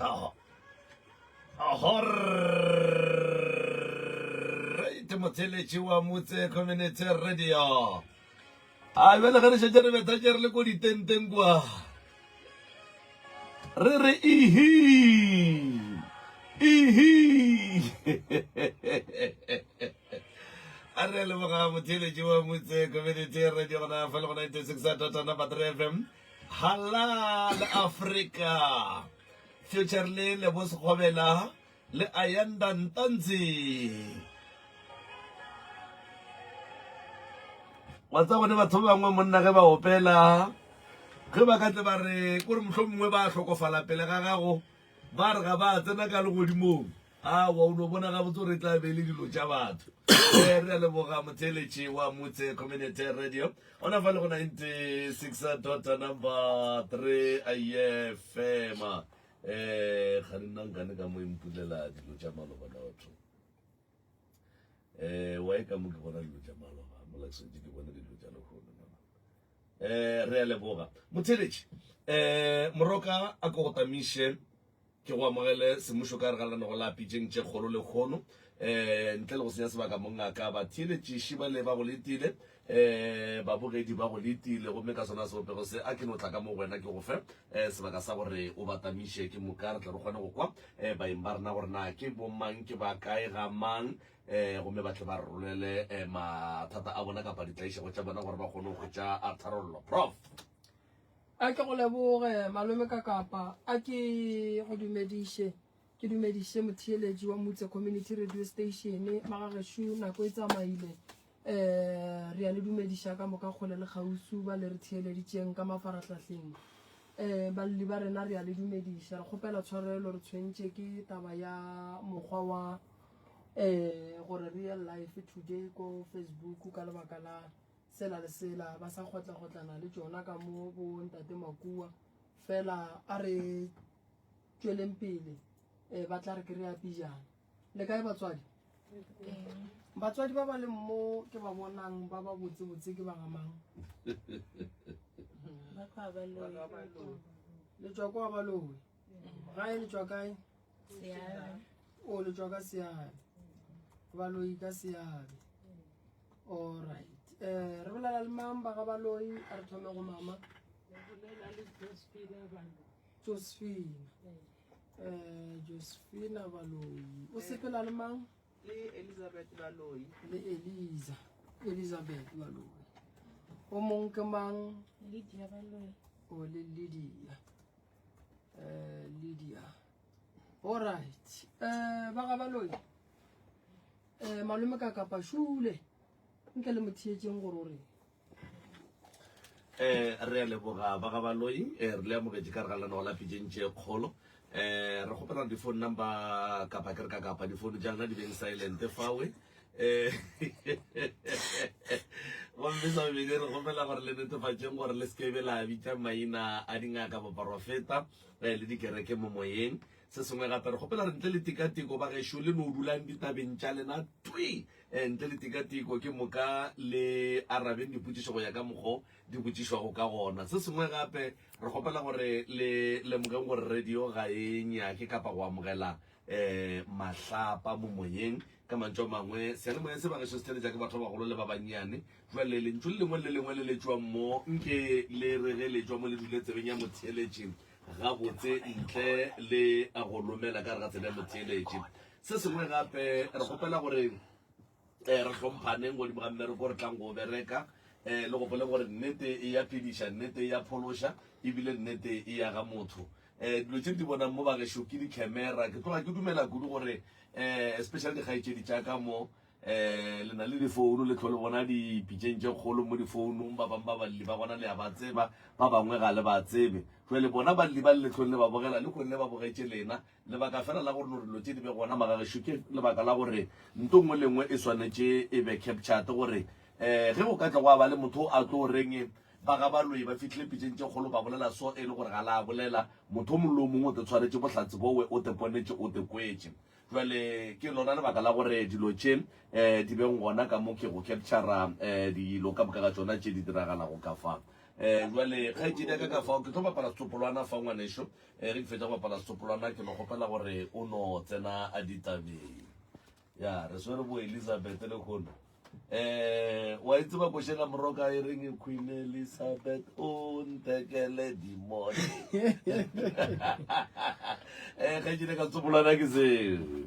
Oho. Oho. Right, motheletši wa motse community radio. A bjale ge re šetše re betha tše re le ko ditenteng kwa. Re re ihi. Ihi. a re leboga motheletši wa motse community radio gona fa le go 96 tota number 3 fm Galla le Afrika Future le Lebo Sekgobela le Ayanda Ntanzi. Wa tsa gone batho ba bangwe monna ge ba opela ge ba ka tle ba re kore mohlomongwe ba hlokofala pele ga gago ba re ga ba tsena ka legodimong Aowa, o no bona gabotse gore e tla be e le dilo tša batho. Ee, re a leboga motheeletši wa Motse Community Radio. Gona fa le go 96 dota number 3 aye fema. Um ga di nna nkane ka mo e mpulela dilo tša maloba lotho. Um wa e ka mo ke bona dilo tša maloba, mo laksentše ke bona dilo tša lehono. Eh, re a leboga motheeletši. Eh, moroka a ko go tamiše. Ke go amogele semmušo ka gare ga lenaneo la Pitšeng tše Kgolo lekhono. Ntle le go senya sebaka, mongaka, batheeletšiši bale ba go letile, babogedi ba go letile, gomme ka sona sebopego se, a ke no tla ka mo go wena ke go fe sebaka sa gore o ba tamiše. Ke moka re tle re kgone go kwa baeng ba rena gore na ke bomang, ke ba kae, ga mang, gomme ba tle ba re rolele mathata a bona kapa ditlaišego tša bona gore ba kgone go hwetša tharollo. Prof. A ke go leboge malome ka kapa a ke go dumediše ke dumediše motheeletši wa mutse community radio station magageshu nako e tsamaile um re ya le dumediša ka moka kgole le kgausu ba le re theeleditšeng ka mafarahlahleng um balli ba rena re ya le dumediša re kgopela tshwarelo re tshwentše ke taba ya mokgwa wa um gore real life today ko facebook ka lebaka la sela le sela ba sa kgotlagotlana le tšona ka mo bo ntate makua fela a re tšweleng pele um ba tla re ke re ya pijana le kae batswadi batswadi ba ba leng mo ke ba bonang ba ba botsebotse ke ba gamang le tswa kwa baloe gae le tšwa kae o le tšwa ka seabe baloi ka seabe allright um eh, re bolela le mang ba ga baloi a re thome go mama josephina um josephina baloi o sepela le mang le elizabeth baloi le eliza elizabeth baloi o mongwe ke mang o le lydia uh, lydia allright uh, eh, ba ga baloi uh, eh, malome ka kapa šule nke le motheetseng gore o reng um re a leboga ba ga baloi um re le amogetse ka re ga lena go lafetseng tše kgolo um re kgopela di-phone number kapa ke re ka kapa di-phone tša lena di beng silent fawe Eh, gomme sa bobedi re gomela gore le netefatšeng gore le sekebe la bitša maina a dingaka boporofeta eh, le dikereke mo moyeng se sengwe gape re gopela re ntle le tikatiko ba gešo le no dulang ditabeng tša lena twi eh, ntle le tikatiko ke moka le arabeng dipotšišo go ya ka mokgo di botšišwago ka gona se sengwe gape re gopela gore le lemogeng gore radio ga e nyake kapa go amogela um mahlapa mo moyeng. Ka mantšu a mangwe, seyalemoya se bagešo se tleletša ke batho ba bagolo le ba bannyane. Bjale lentšu le lengwe le lengwe le letšwang mo, nke le re ge le tšwa mo le dule tsebeng ya motheeletši gabotse ntle le go lomela ka gare ga tsebe ya motheeletši. Se sengwe gape, re kgopela gore. Ee, re hlomphaneng godimo ga mmereko, re tlang go o bereka. Ee, le gopole gore nnete e ya phediša, nnete e ya phološa, e bile nnete e ya ga motho. Ee, dilo tše re di bonang mo bagešo ke dikhemera. Ke tloga ke dumela kudu gore ee, especially dikgaetšedi tša ka mo, ee, le na le difounu, le tlho le bona dipitšeng tše kgolo mo difounung. Ba bang ba balli ba gona le a ba tseba, ba bangwe ga le ba tsebe. Jwale bona balli ba le tlhong le ba bogela, le kgonne ba bogetše lena. Lebaka fela la gore lorelo tše di be gona magagešo ke lebaka la gore nto nngwe le nngwe e swanetše e be captured gore um ge go ka tla gwa ba le motho a tlo reng ba ga baloi ba fihlile pitšeng tše kgolo ba bolela so e le gore ga la bolela motho mongwe le o mongwe o te tshwaretše bohlatse bowe o te ponetše o te kwetše jwale ke lona lebaka la gore dilo tše um di beng gona ka mo ke go captura um dilo ka moka ga tšona tše di diragalago ka fa um jwale kgaetšedi ya ka ka fao ke tlo bapala setsopolwana fa ngwaneso Ee, re ke fetša go bapala setopolwana ke no kgopela gore o no tsena a ditabeng. Ya, re swere bo Elizabeth le kgono. Eh, wa e tseba košela moroka e reng e Queen Elizabeth o nthekele dimone. Eh, ga ke ne ka setopolwana ke seo.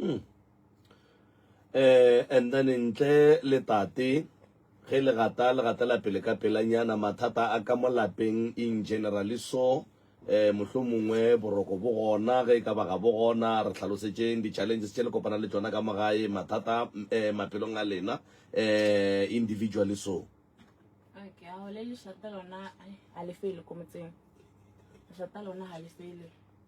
mm. eh and then ntle le tate ge le gata le gata la pele ka pelanyana mathata a ka mo lapeng in generally so eh mohlo mongwe boroko bo gona ge e ka baga bo gona re tlhalosetšeng di-challenges tše le kopana le tsona ka mogae mathata eh maphelong a lena eh individually so okay a go le lešata lona a le fele ko motseng lešata lona ga le fele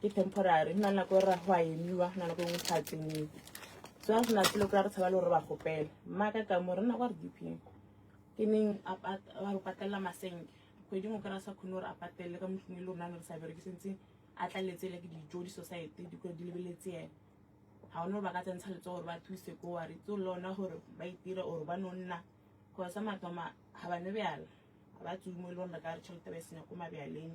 ke temporary go na le nako e ra go a emiwa go na nako engwe sa tseniwe so a sena selo kora re tshaba le gore ba gopela mmaka ka mo re nna kwa re dipeng ke neng a re patelela masenke kgwedi ngwe kry-a sa kgone gore a patelele ka motlhong e le rona ne re sa bereke sentse a tlaletsele ke dijo di-society di kgone di lebeletse ene ga one gore ba ka tsentsha letso gore ba thuse ko wa re tse le ona gore ba itira or ba no nna gore sa matoma ga ba ne bjala ga ba tsumo e le gore re ka re tšhelete ba e senya ko mabjaleng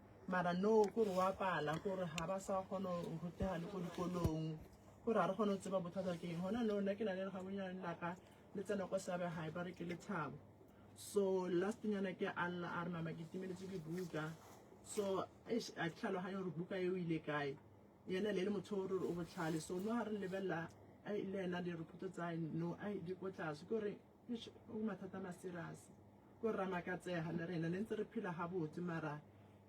mara no ko re wa pala ko re ga ba sa kgona go rutega le ko dikolong ko re ga re kgone go tseba bothata ke eng gona no nna ke na le legabonyane laka le tsena kwa seabe gae ba re ke lethabo so last nyana ke a lla a re mama ke timeletse dibuka so a ke tlhaloganye gore buka e o ile kae yena le le motho o re o botlhale so no ga re lebelela le ena direphoto tsa no di ko tlase ke gore Eish, go mathata a maserase. Ko rra makatsega le rena ne ntse re phela gabotse mara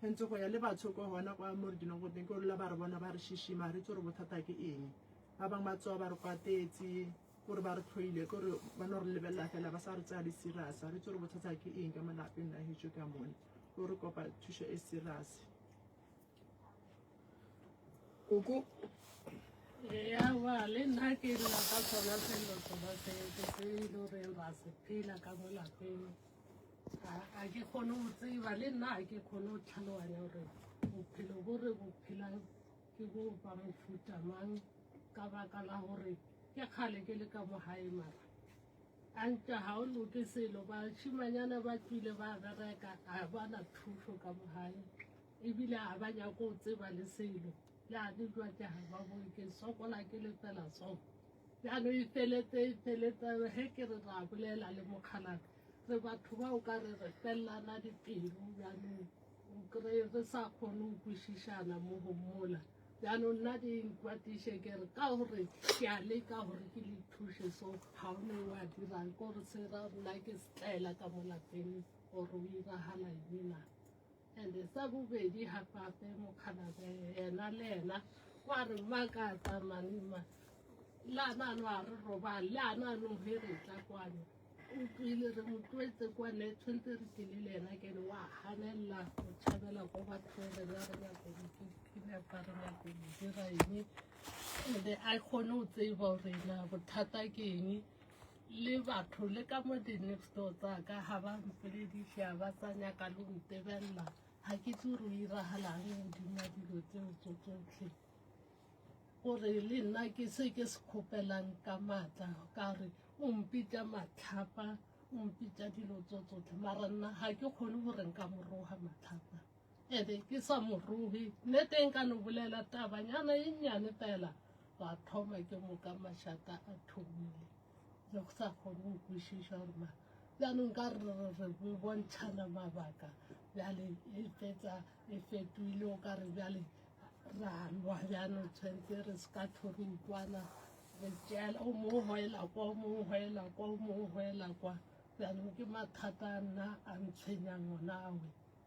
hentse go ya le batho ko gona kwa mo re dulang go teng ke rola ba re bona ba re shishima re itse gore bothata ke eng ba bangwe ba tsoa ba re kwatetse kore ba re tlhoile kore ba no re lebelela fela ba sa re tsaya le serious re itse gore bothata ke eng ka malapeng la hejo ka mone o re kopa thušo e serious Koko ya ba le nna ke lla ka sona selo sona se ke se e le gore ra se phela ka mo lapeng a ke kgone go tseba le nna a ke kgone go tlhaloganya gore bophelo bo re bo phela ke bo ba mofuta mang ka baka la gore ke kgale ke le ka mo gae mara a ntša ga o loke selo bashimanyana ba tswile ba bereka a bana thuso ka mo gae E bile ga ba nyake go tseba le selo. Ya le jwa ke ga ba bone ke sokola ke lepela so. Ya no e felete e felete he ke re ra bolela le mokgalaka. Re batho ba o ka re re fellana dipelo ya no o kry re sa kgone go kwešišana mo go mola. Ya no nna di nkwatiše ke re ka gore ke a leka gore ke le thuše so ga o ne wa dirang ke gore se ra nna ke setlaela ka mo lapeng gore o iragala eng na. Ande sa bobedi ha pape mokgalabe yena le yena wa re makatsa manima le anano a re robale le anano he re tla kwano o tlwile re mo tlwetse kwane tshwanetse re tlile le yena kene wa ganelela go tšhabela ko batho re ba re nyako dikenepa re nyako dira eng ande a kgone go tseba gore na bothata ke eng le batho le ka mo di-next door tsaka ga ba mpolediša ba tsa nyaka le go ntebelela ga ke tse gore o iragalang godima dilo tseo tso tsotlhe gore le nna ke se ke se kgopelang ka maatla ka re o mpitša matlhapa o mpitša dilo tso tsotlhe mara nna ga ke kgone gore nka moroga matlhapa ebe ke sa mo ruhi ne teng ka no bolela tabanyana e nnyane fela wa thoma ke moka mašata a thomile le go sa kgone go kwešiša gore ma jaanong ka re re bontšhana mabaka bjale e fetsa e fetoile o ka re bjale ra lwa jaanong tshwanetse re se ka thori utlwana re tšeela o mongwe goela kwa o mongwe goela kwa o mongwe goela kwa jaanong ke mathata a nna a ntshwenyang ona awe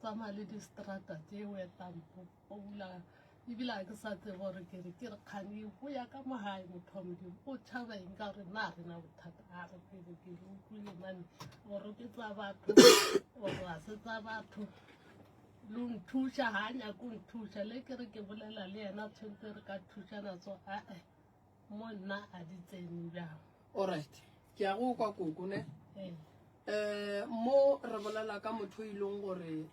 tsamaya le distrata tše wetampo o bula ebile a ke sa tsebe gore ke re ke re kgane go ya ka mogae motho wa modimo o tšhaba eng ka gore na re na bothata a re pele ke re utlwile mane gore ke tsa batho gore ga se tsa batho lo nthuša ga a nyako nthuša le ke re ke bolela le yena tshwentse re ka thušana so ae Mo nna a di tsene bjang? All right. Ke a go kwa koko ne. Eh. Eh mo re bolela ka motho e leng gore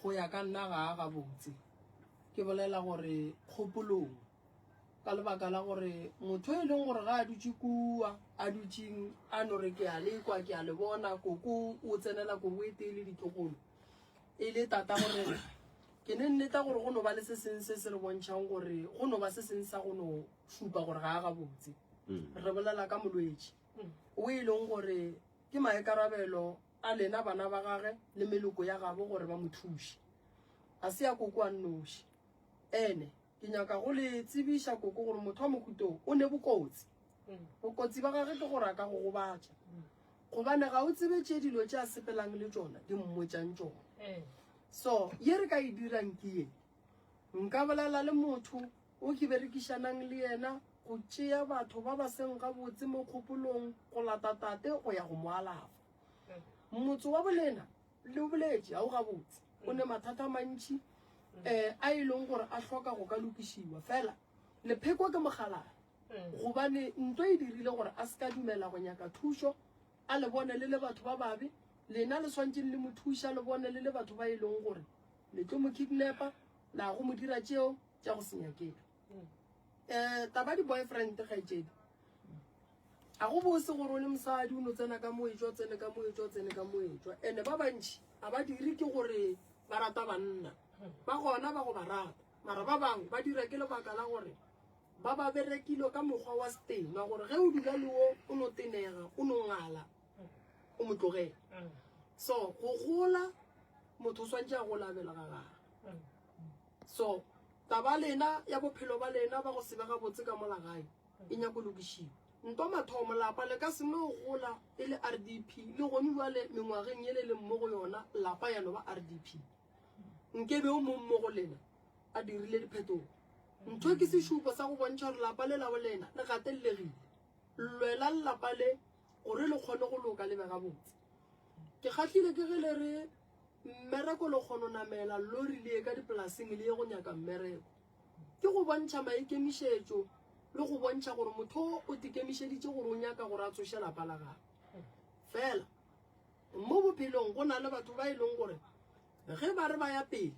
go ya ka nna ga a ga botse. Ke bolela gore kgopolong ka lebaka la gore motho e leng gore ga a dutse kua a dutseng a no re ke a le kwa ke a le bona koko o tsenela koko e tee le ditlogolo E le Tata go rena. Ke ne nneta gore go no ba le se seng se se re bontšhang gore go no ba se seng sa go no šupa gore ga a gabotse. Re bolela ka molwetši o e leng gore ke maikarabelo a lena bana ba gage le meloko ya gabo gore ba mo thuše. Ga se ya koko a nnoši. Ene. Ke nyaka go le tsebiša, Koko, gore motho wa mohuta o, o ne bokotsi. Bokotsi ba gage ke gore a ka go gobatša. Gobane ga o tsebe tše dilo tše a sepelang le tšona di mmotšang tšona. So, ye re ka e dirang ke ye. Nka bolela le motho o ke berekišanang le yena go tšea batho ba ba seng gabotse mo kgopolong go lata tate go ya go mo alafa. Motse wa bolena, Le o boletše, ga o gabotse. O ne mathata a mantši um a e leng gore a hloka go ka lokišiwa. Fela lepheko ke mogalana gobane ntwa e dirile gore a se ka dumela go nyaka thušo, a le bone le le batho ba babe. Lena le swantšeng le mo thuša, le bone le le batho ba e leng gore le tlo mo kidnapa, la go mo dira tšeo tša go se nyakega. um taba di boyfriend kgaitsedi ga go bose gore o le mosadi o no tsena ka moetswa tsene ka moetswa tsene ka moetswa and-e ba bantšhi ga ba dire ke gore ba rata banna ba gona ba go ba rata mara ba bangwe ba dira ke lebaka la gore ba ba berekile ka mokgwa wa setema gore ge o dula le wo o no tenega o no ngala o mo tlogela so go gola motho o swantse a go labela ga gaga So, taba ya lena ya bophelo ba lena ba go se be gabotse ka mola gae e nyaka go lokišiwa. Ntwa mathomo, lapa le ka se no gola e le RDP, le gone bjale mengwageng yele le mmo go yona, lapa ya no ba RDP. Nke be o mong mo go lena a dirile diphetogo. Ntho ke sešupo sa go bontšha gore lapa le la bolena le gatellegile. Lwelang lapa le gore le kgone go loka le be gabotse. Ke kgahlile ke ge le re Mmereko le kgono namela lori le ye ka dipolasing le ye go nyaka mmereko. Ke go bontšha maikemišetšo le go bontšha gore motho o tikemišeditše gore o nyaka gore a tsoše lapa la gagwe. Fela mo bophelong go na le batho ba e leng gore ge ba re ba ya pele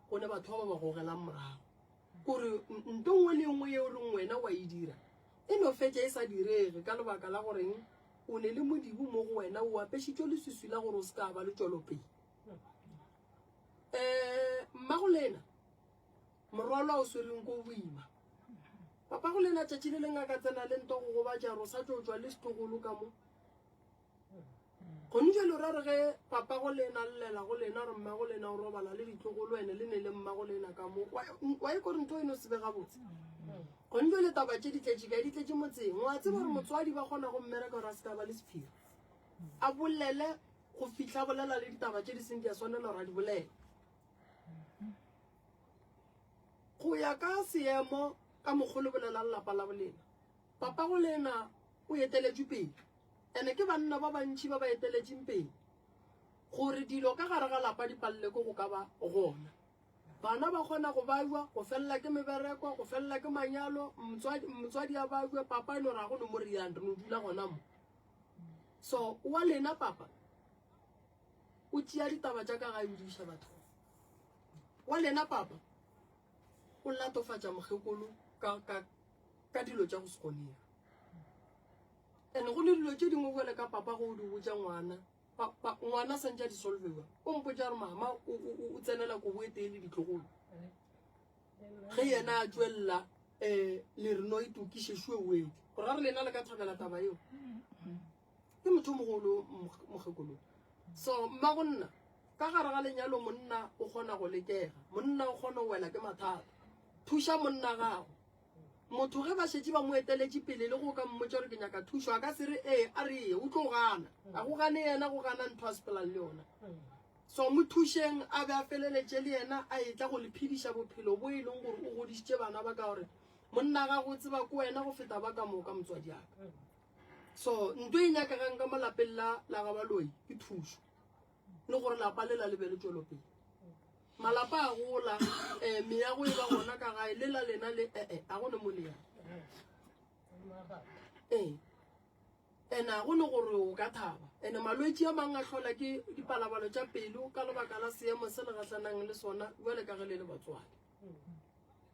go ne batho ba ba ba gogelang morago. Gore nto nngwe le nngwe yeo reng wena wa e dira e no fetša e sa direge ka lebaka la goreng o ne le modibu mo go wena o apešitšwe leswiswi la gore o se ka ba le tšwelopele. Um mmago lena morwalwa o swereng ko boima papa go lena tšatši le leng a ka tsena le nto go gobatša gore o sa tlo tšwa le setlogolo ka mo Gone jale o ra re ge papago le ena llela go lena gore mmago le ena o robala le ditlogo le wene le ne le mmago le ena ka mo wa e kore ntho eno se be gabotse gone jale taba tše di tletše kae di tletše motseng wa tseba gore motswadi ba kgona go mmereka gore a se ka ba le sephiri a bolele go fitlha bolela le ditaba tše di seng di a swanela gore a di bolele go ya ka seemo ka mokgolo bolela lelapa la bolena papago le ena o eteletšwe pele Ene ke banna ba bantši ba ba eteletšeng pele gore dilo ka gare ga lapa di palele ko go ka ba gona. Bana ba kgona go bajwa, go felela ke mebereko, go felela ke manyalo, motswadi, motswadi a bajwe, papa e no ra go no mo reyang, re no dula gona mo. So, wa lena papa, o tšea ditaba tša ka gae o di iša bathong. Wa lena papa, o latofatša mokgekolo ka, ka, ka dilo tša go se kgonega. Ene go le dilo tše dingwe bjale ka papa go o di botša ngwana ngwana santse a di solvewa o mpotša gore mama o tsenela kobo e tee le ditlogolo ge yena a tswelela um le reno e tokišešue wee gore a re lena le ka thabela taba eo ke motho mogolo mokgekolo so mma go nna ka gare ga lenyalo monna o kgona go lekega monna o kgona go wela ke mathata thuša monna gago Motho ge ba šetše ba mo eteletše pele le go ka mmotša gore ke nyaka thušo, a ka se re ee, a re eye, o tlo gana. A go gane yena, go gana ntho a sepelang le yona. So mo thušeng a be a feleletše le yena a etla go le phediša bophelo bo e leng gore o godišitše bana ba ka gore monna ga go tseba ko wena go feta ba ka moka motswadi aka. So ntho e nyakagang ka mo lapeng la la gabaloi ke thušo. le gore lapa le la le be le tšwelopele malapa a gola um eh, meyago e ba gona ka gae le la lena le ee eh, eh, a go ne mo le yang ee and a go ne gore o ka thaba and-e malwetse a mangwe a tlhola ke dipalabalo tša pelo ka lebaka la seemo se le gatlhanang le sona jale ka ge le le batswale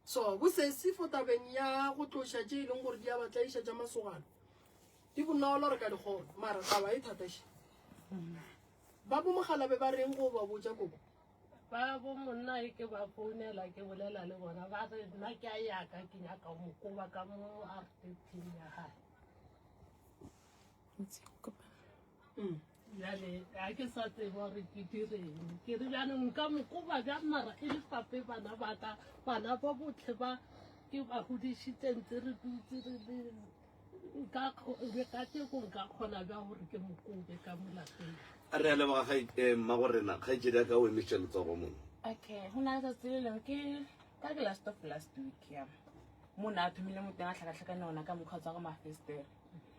So, bosesi fo tabeng ya go tloša tše e leng gore di a ba tlaiša tša masogana di bonolo re ka dikgona mara taba e thataše ba bomogalabe ba reng go ba botša koko ba bo monna e ke ba founela ke bolela le bona ba re nna ke a yaka ke nyaka mo koba ka mo artepin ya gae bjale ga ke sa tseba gore ke direng ke re bjane nka mokoba bja mara e le pape bana baka bana ba botlhe ba ke ba godišitse ntse re dutse re le nka kgo- ka teko nka kgona bja gore ke mokobe ka molapeng a re a leboga ga eh, mma go rena kgaitsedi a ka o emetše letsogo mono okay go na le tsatsi le leng ke ka ke last of last week ya mo ne a thomile mo teng a tlhakatlhakane ona ka mokgwa tsa go mafestere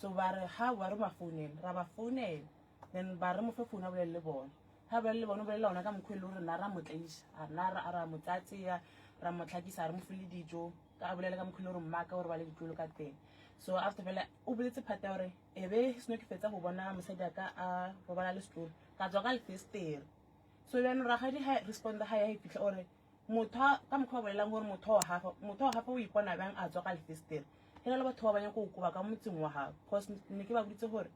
So ba re ha wa re ba founele ra ba founela then ba re mo fe founu a bolele le bona ha bolele le bona o bolelela ona ka mokgwa e le gore na ra mo tlaisa a na ra ra mo tsatseya ra mo tlhakisa re mo file dijo ka a bolele ka mokgwa e le gore mmaka o re bale ditlolo ka teng so after fela o boletse phate ya gore e be seno ke fetsa go bona mosadi a ka a robala le setlolo ka tswa ka lefestere so jaanong ragadi ha responda ga ya e fitlha ore Motho ka mokgwa o bolelang gore motho wa gagwe motho wa gagwe o ipona bjang a tswa ka lefestere ge na le batho ba ba nyako o koba ka motseng wa gagwe cause ne ke ba boditse gore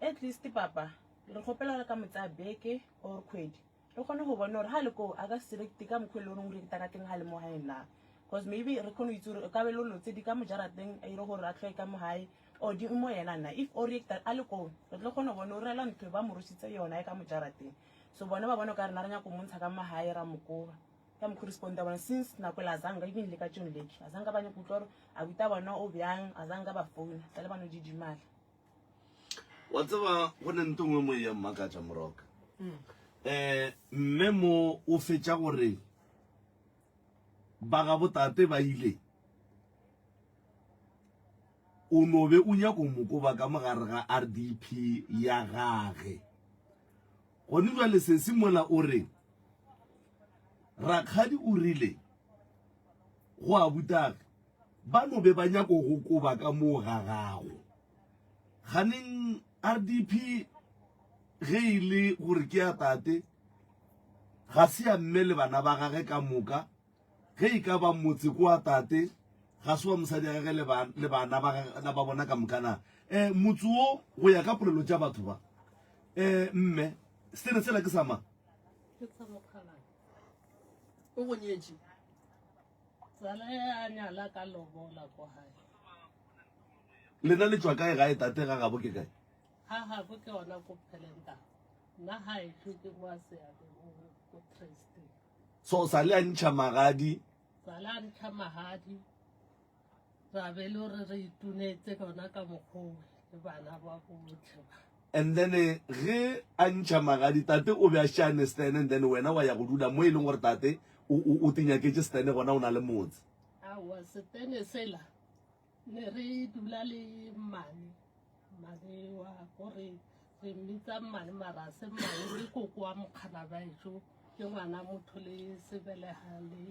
at least papa re kgopela gore ka motsa beke or kgwedi re kgone go bona gore ga le koo a ka se rekete ka mokgwa e le goreng o reketa ka teng ga le mo gaeng na cause maybe re kgone go itse gore ka be lo lotse di ka mojarateng a ire gore a tlhoe ka mo gae or di mo yena na if o reketa a le koo re tlo kgone go bona o rela ntho ba mo rositse yona e ka mojarateng so bona ba bona o ka rena re nyaka go montsha ka magae ra mokoba ka mokgwa responda bona since nako le azanga even le ka tšong leke azanga ba nyako utlwa gore abuta bona o bjang azanga ba founa tsa le bano didimala wa tseba go ne nto nngwe moe ya mmakatša moroka um hmm. eh, mme mo o fetša gore ba ga botate ba ile o nobe o nyako mokoba ka mogare ga rdp ya gage Gone bjale sesi mola o re, Rakgadi o rile go abutagi ba no be ba nyako go koba ka moo ga gago. Ganeng RDP ge e le gore ke ya tate, ga se ya mme le bana ba gage ka moka, Ge e ka ba motse ke wa tate, ga se wa mosadi ya gage le bana ba bona ka moka na? Um, motse wo, go ya ka polelo tša batho ba. Um, mme, setene sela ke sa mang? Ke sa mokgalabje. O go nyetše. Tsala e a nyala ka lobola ko gae. Lena le tšwa kae gae tate ga gabo ke kae? Ga gabo ke ona ko Phelenta. Nna ga e tlwe ke kwa Seabe go Tresteng. So sa le a ntšha magadi. Sa le a ntšha magadi. Ra be le re re itunetse gona ka mokgowe le bana ba botlhe ba. And then eh, ge a ntšha magadi tate o be a šane stene and then wena wa ya go dula mo e leng gore tate o tinyaketse stene gona o na le motse. Aowa setene sela ne re dula le mmane mmane wa ko re re mmitsa mmane marase mmane o le koko wa mokganabaetso ke ngwana motho le sebelega le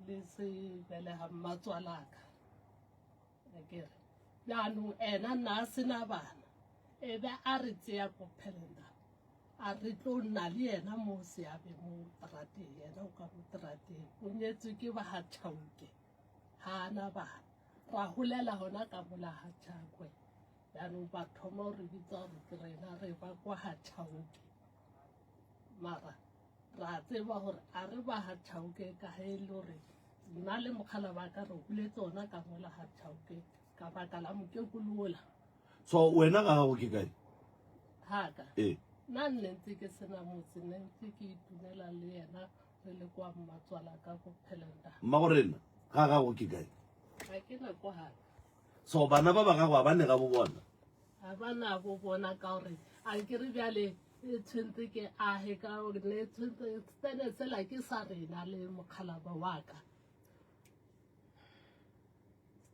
le sebelega mmatswalaka akere jaanong ena nna a sena bana e be a re tseya ko phelenda a re tlo nna le yena mo seabe mo terateng yena o ka mo terateng o nyetswe ke ba ga tšhauke ga a na bana ra golela gona ka mola ga tšakwe jaanong ba thoma gore bitsa gore ke rena re ba kwa ga tšhaoke mara ra tseba gore a re ba ga tšhaoke ka ge e le gore nna le mokgala ba ka re goletse ona ka mola ga tšhaoke ka baka la mokekolola so wena ga gago ke kae gaka ee nna nne ntse ke sena motse nne ntse ke itumela le yena Re le kwa mmatswala ka go phelenta. Mma go rena ga gago ke kae? Ga ke na kwa ga. So bana ba ba gago ba ne ga bo bona? Ga ba na bo bona ka gore a ke re bjale e tshwentse ke age ka gore ne tshwentse tsene tsela ke sa rena le mokgalaba wa ka.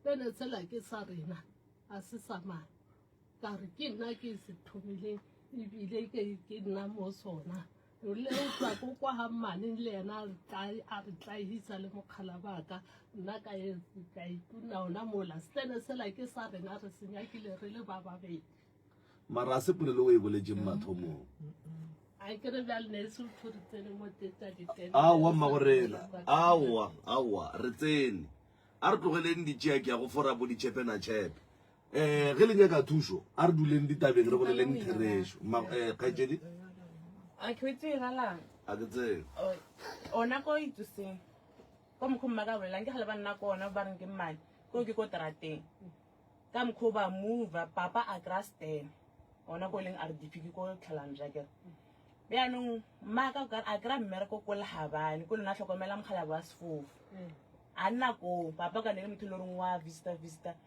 Tsene tsela ke sa rena a se sa mang. Ka re ke nna ke se thomile ebile ke ke nna mo sona. o le o tla ko kwa ga mmaneng le yena a re tlae a re tlaehisa le mokgala baka nna ka e ka ituna ona mola stene sela ke sa rena re se nyakile re le ba babedi mara se polelo o e boletseng mm. mathomong a ke re bjale ne e se motho re tsene mo tetsa ditene aowa mma go rena aowa aowa re tsene a re tlogeleng ditšea ke ya go fora bo ditšhepena tšhepe Eh, ge le nyaka thušo, a re duleng ditabeng re boleleng therešo. Ma, eh, kgaetšedi? A ke o itsee galang? A ke tsee. Oh, ona ko ituseng. Ko mokho mma ka bolelang, ke gale ba nna ko ona, ba reng ke mmane. Ko ke ko terateng. Ka mokho ba move, papa a kry-a stand. Ona ko leng RDP, ke ko tlhalang jakere. Bjanong, mma ka o kare, a kry-a mmereko ko lehabane, ko lona tlhokomela mokgalabo wa sefofu. A nna ko, papa ka ne le motho le reng wa vista vista.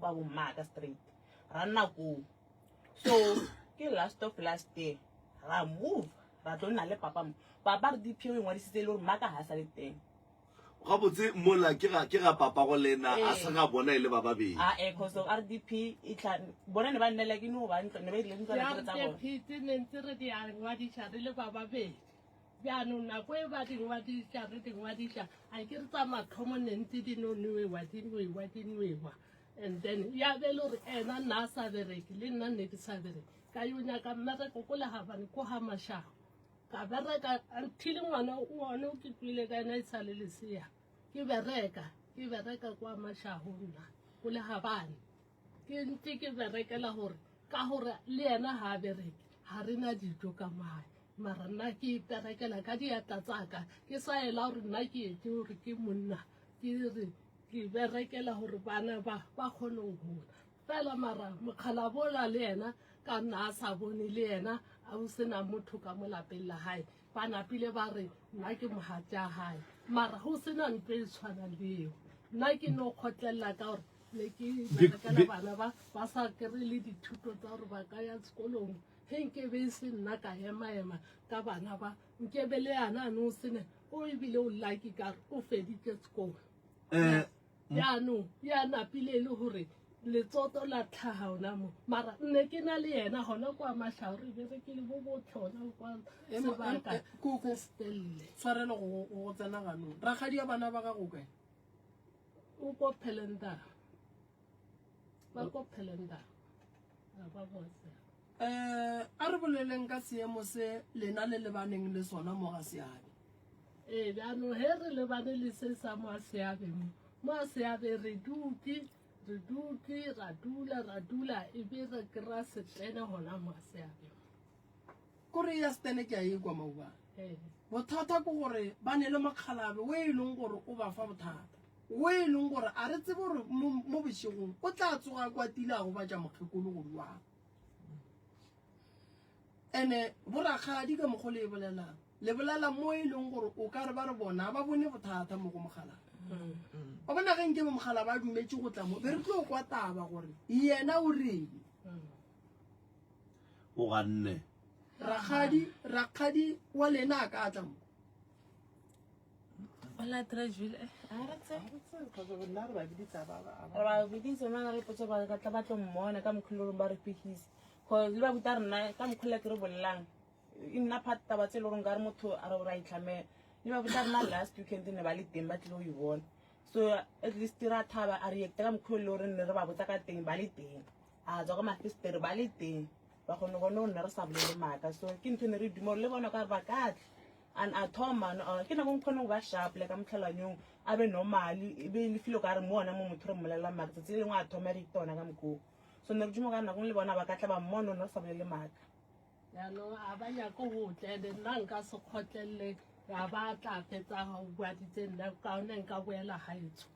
ba bo mmaka straight ra nna koo so ke last of last year ra move ra tlo nna le papa mo papa re dpo e ngwadisitse e le gore mmaka ga sa le teng gabotse mola ke ga ke ga papa go lena a se ga bona e le ba babedi a e cause of rdp e tla bona ne ba nnela ke no ba ntlo ne ba ile ntlo re tsa bona phetse ne ntse re di a ngwadisa re le ba babedi Jaanong nako e ba dingwadiša re dingwadiša a ke re tsa matlhomo ne ntse di no nwewa di nwewa di nwewa and then ya be le gore ena nna a sa bereke le nna nne ke sa bereke ka yo nyaka mmereko ko legabane ko ga mashago ka bereka until ngwana one o ke kwile ka ena e sa le lesea ke bereka ke bereka kwa mashago nna ko legabane ke ntse ke berekela gore ka gore le yena ga a bereke ga re na dijo ka mae mara nna ke berekela ka diatla tsaka ke sa ela gore nna ke etse gore ke monna ke re ke berekela gore bana ba ba kgone go gola fela mara mokgalabola le yena ka nna a sa bone le yena a o sena motho ka mo lapeng la gae Ba napile ba re, Nna ke mogatša gae, mara go sena nto e tshwana le eo. Nna ke no kgotlelela ka gore ne ke berekela bana ba ba sa kry le dithuto tsa gore ba ka ya sekolong ge nke be e se nna ka emaema ka bana ba nkebe le yana a ne o sene o ebile o lucky ka re o feditše sekolo um eh, Yaanong e a napile e le gore letsoto la tlhaga ona mo mara nne ke na le yena gona kwa matlhao re bere ke le bo botlhona kwa sebaka koko stelle tshwarelo go tsena ganong rakgadi ya bana ba gago kae o ko phelendara ba ko phelendara Eh, a re boleleng ka seemo se lena le lebaneng le sona mo ga seabe ee jaanong he re lebane le se sa mo a seabe mo mo a seabe re duke re duke ra dula ra dula e be re kry-a setlene gona mo a seabe Kore ya Stene ke a e kwa maubane. Bothata ke gore ba ne le mokgalabe o e leng gore o ba fa bothata. O e leng gore a re tsebe gore mo bošegong o tla tsoga kwa tile a go batša mokgekolo gore wa. Ene borakgadi ka mokgo le e bolelang. Le bolela mo e leng gore o ka re ba re bona ba bone bothata mo go mokgalabe. Ba bona ge nke mokgala ba dumetse go tla mo be re tlo kwa taba gore yena o reng O ganne. Rakgadi, rakgadi wa lena a ka tla mo. Hola Trajville. Eh, a re tse. Rona re ba biditsa ba ba. Re ba biditsa mana re potse ba ka tla ba tlo mmona ka mokhulo ba re pihisa. Go le ba buta rena ka mokhulo ke re bollang. E nna part taba tse lorong ka re motho a re o ra itlhamela. Le ba buta rena last weekend ne ba le teng ba tlilo e bona. So at least ra thaba a react ka mokhulo le re ne re ba botsa ka teng ba le teng. a tswa ka mafestere ba le teng ba kgone gone o nne re sa bolele maaka so ke ntho ne re dumelo le bona ka ba katle and a thoma uh, ke nako nkgone go ba sharple ka motlhalanyong a be normally e be e le filo ka re mo ona mo motho re mmolelelang maaka tsatsi le lengwe a thoma re itona ka mokoo so ne re duma ka nakong le bona ba katla ba mmone o ne re sa bolele maaka jaanong a ba nyako go tlele nna nka se kgotlelele ya ba tla fetsa go bua ditse nna kaone nka boela gaetsho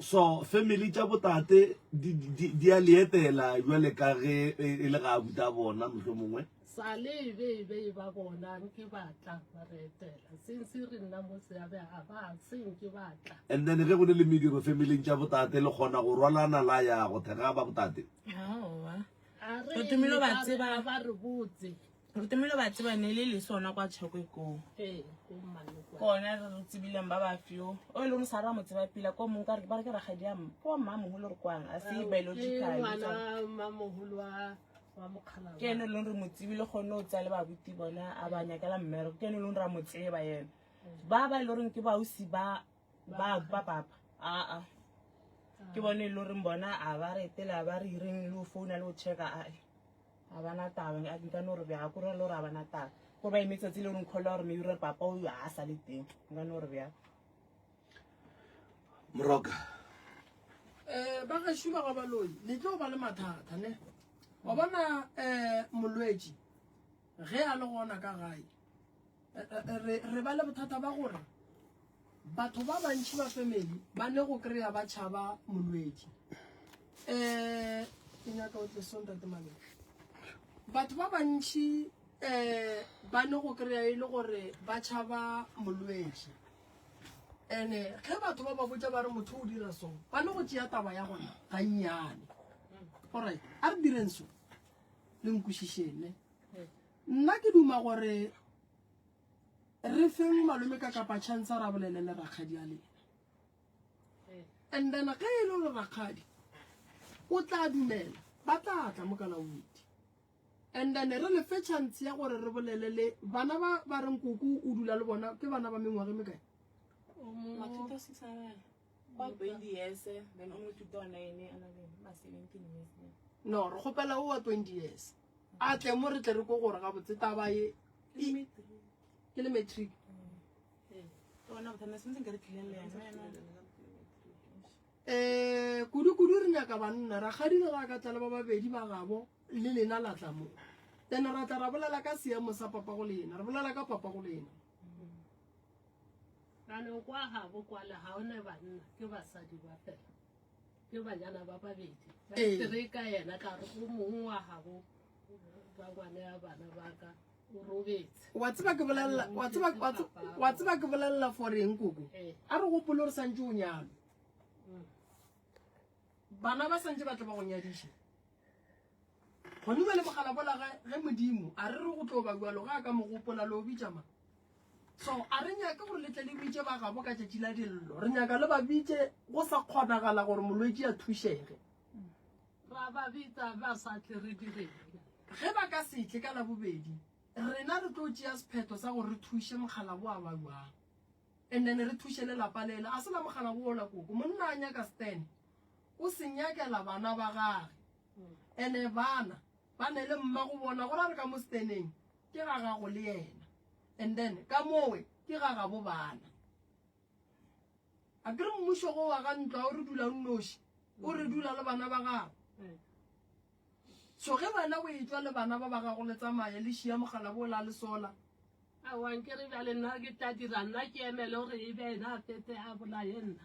so family tša botate di a leetela jwale ka ge e, e le ga a buta bona motlho mongwe sale e be e be e ba bona nke batla ba re etela since re nna mo seabe ga ba se nke batla and then ge go ne le mediro family tša botate le kgona go rwalana la ya go thega ba botate a re ba re botse re tomile ba tseba ne le le sona kwa tšhekwe koo kone re re tsebileng ba ba fio o e leng sa ra mo tseba pila ko mong ka re ba re ke ragadi ya mma kwa mma mogolo re kwang a se biological ke ene e leng re mo tsebile gone o tsaya le babuti bone a ba nyakela mmereko ke ene e leng ra mo tseba ene ba ba e le goreng ke baosi ba Ba ba papa. A a. Ke bone lo reng bona a ba re tela ba re reng lo founa lo checka a e. A bana taba a di ka no re bya go re lo ra bana taba. Go ba imetsa tsile reng khola re me re papa o a sa le teng. Nga no re bya. Moroka. Eh ba ga shuma ga baloi. Ni tlo ba le mathata ne. Wa bona eh molwetsi ge a le gona ka gae. re, re ba le bothata ba gore batho ba bantši ba family ba ne go kry-a ba tšhaba molwetši um ke nyaka o tlesontate mane batho ba bantši um ba ne go kry-a e le gore ba tšhaba molwetši and-e ge batho ba ba botsa ba re motho o dira song ba ne go tšea taba ya gona ga nnyane orit a re direng so le nkwešišene Nna ke duma gore re feng malome ka kapa chance a ra bolele le rakgadi a lena. And then ge e le gore rakgadi o tla dumela ba tla tla mo kana witi. And then re le fe chance ya gore re bolele le bana ba ba reng koko o dula le bona ke bana ba mengwage me kae? Matuta se sa ba. Ba baby yes, then o mo tuta ona ene ana le ma 17 years. No, re gopela o wa 20 years. a tle mo re tle re ko gore gabotse taba e ke le matric um eh, kudu-kudu re nyaka banna rakgadi le ga ka tla le ba babedi ba gabo le lena la tla mo then ra tla ra bolela ka seemo sa papa go lena re bolela ka papa go lena ranong kwa gabo kwale ga one banna ke basadi ba fela wa tseba ke bolelela wa tseba wa tseba ke bolelela for eng koko eh. a re gopole re santse o nyalo mm. bana ba santse ba tle ba go nyadiša gone ba le mogala bola ge modimo a re re go tlo ba jalo ga a ka mogopola le o bitšama So a re nyake gore le tle le bitše ba gabo ka tšatši la dillo. Re nyaka le ba bitše go sa kgonagala gore molwetši a thušege. Ra ba bitsa ba sa tle re direng? Ge ba ka se tle ka la bobedi, rena re tlo tšea sephetho sa gore re thuše mokgalabo wa ba jwang. And then re thuše le lapa lela. A se la mokgalabo ola koko. Monna a nyaka Stan. O se nyakela bana ba gage. Ene bana ba ne le mma go bona gore a re ka mo Staneng. ke ga gago le yena and then ka mowe ke ga gabo bana a kere mmušo go wa ga ntlo a o re dula nnoši o re dula le bana ba gago so ge wena o e tswa le bana ba ba gago le tsamaye le šia mogala bo la le sola awankere bjale nna ke tla dira nna ke emele gore e be ena a fete a bolaye nna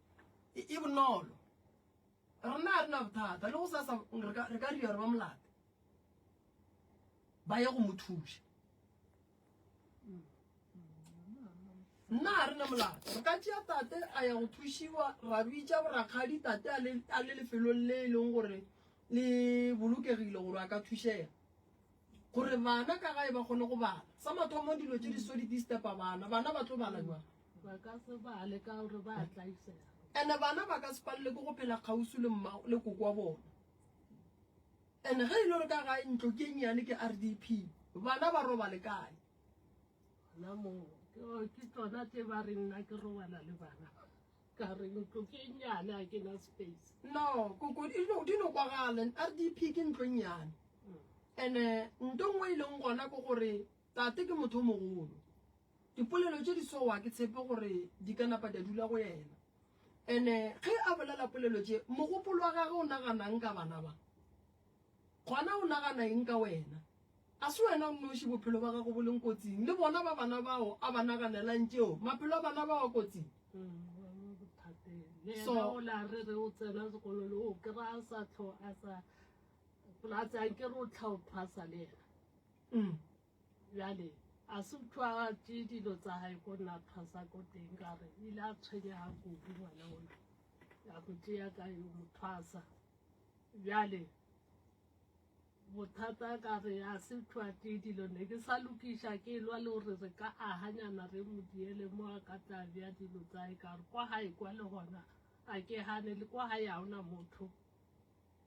e, e bonolo rena ga re na bothata le go sasa re ka re ka ria re ba molate ba ye go mo thuša nna ga re ne molate re ka tšea tate a ya go thušiwa ra bitša borakgadi tate a le- a le lefelong le e leng gore le bolokegile gore a ka thušega gore bana ka gae ba kgone go bala sa mathomo dilo tše di so di disturba bana bana ba tlo bala jwang Ba ka se bale ka gore ba a tlaisega. ene bana ba ka se palelwe ke go phela kgausi le mma le koko wa bona ene ge e le gore ka ga ntlo ke nnyane ke r d p bana ba robale kae Gona moo, ke go- ke tsona tse ba re nna ke robala le bana ka re ntlo ke e nnyane a ke na space no koko di no- di no kwagalen r d p ke ntlo e nnyane ene nto nngwe e leng gona ke gore tate ke motho o mogolo Dipolelo tše di so wa ke tshepe gore di ka napa tša dula go yena. Ene ge a bolela polelo tše, mogopolo wa gage o naganang ka bana ba? Gona o nagana eng ka wena? A se wena o nnoši bophelo ba gago bo leng kotsing, le bona ba bana bao a ba naganelang tšeo maphelo a bana bao a kotsing? So, mm. Bjale, a se utswagatše dilo tsa gae ko nna thwasa ko teng ka re ile a tshwenyaga kudu ngwana ona ya go tšea ka yo mothwasa bjale bothata ka re a se thwa tee dilo ne ke sa lokiša ke lwa le gore re ka aganyana re mo diele mo a ka tla bja dilo tsae ka re kwa gae kwa le gona a ke gane le kwa gae ga ona motho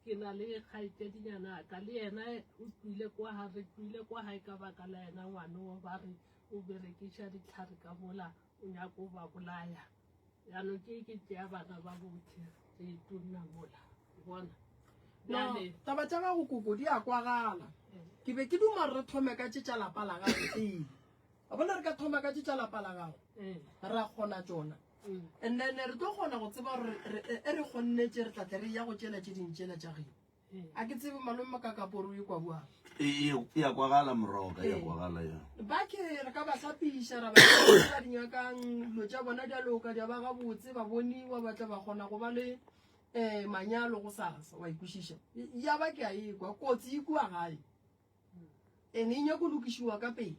Ke na le kgaetšedinyana ya ka le yena o tloile kwa ga re tloile kwa gae ka baka la yena ngwane wo ba re o berekiša ditlhare ka mola o nyaka o ba bolaya yaanong ke ke tšea bana ba botlhe re itunna mola bona Bjale- no taba tša gago koko di a kwagala ke be ke duma re thome ka tše tša lapa la gago pele a bona re ka thoma ka tše tša lapa la gago Eh, ra kgona tšona and then re tlo kgona go tseba gore e re kgonnetse re tlatle re ya go tšela tše ding tšela tša geno a ke tsebe malome makakaporo e kwa boang ya kwagala moroka ya kwagala ya ba ke re ka ba hlapiša ra ba di nyakang dilo tša bona di a loka di a ba gabotse ba boniwa ba tla ba kgona go ba le um manyalo go sasa wa ikwešiša ya ba ke a e kwa kotsi e kua gae and e nyako lokišiwa ka pele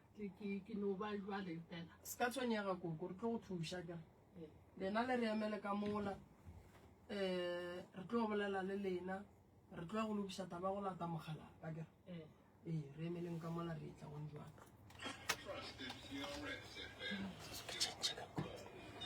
Ke no ba jwale fela. Se ka tshwenyega koko, re tlo go thuša ka. Lena le re emele ka mola. Eh, re tlo bolela le lena. Re tlo go lokiša taba go lata mogala ka ke. Eh, eh re emeleng ka mola re tla go njwana. Trust the